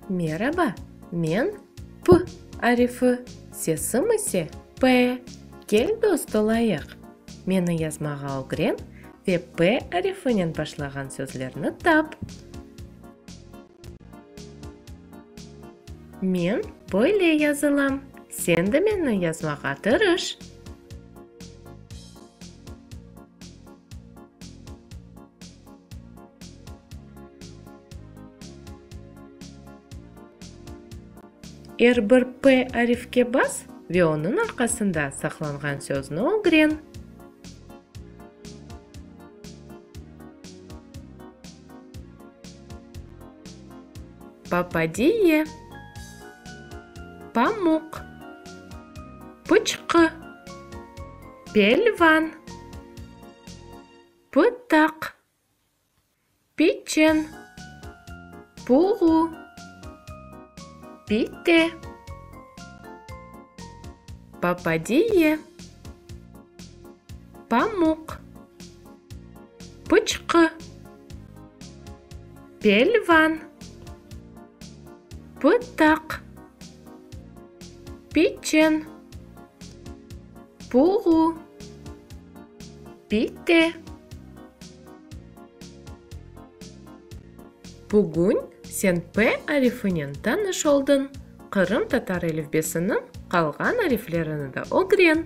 Meraba, men P arifi, sesim ise P. Kel dost olayıq. Meni yazmağa ögren ve P arifinen başlağan sözlerni tap. Men böyle yazılam, sen de menni yazmağa tırış. Er bir p arifke bas ve onıñ arqasında saqlanğan sözni ögren. Papadiye, pamuq, pıçqı, pelvan, pıtaq, piçen, puğu, pite, papadiye, pamuq. Pıçqı. Pelvan. Pıtaq. Piçen. Puğu. Pite. Bugün sen P arifinen tanış oldıñ, qırımtatar elifbesiniñ qalğan ariflerini de ögren.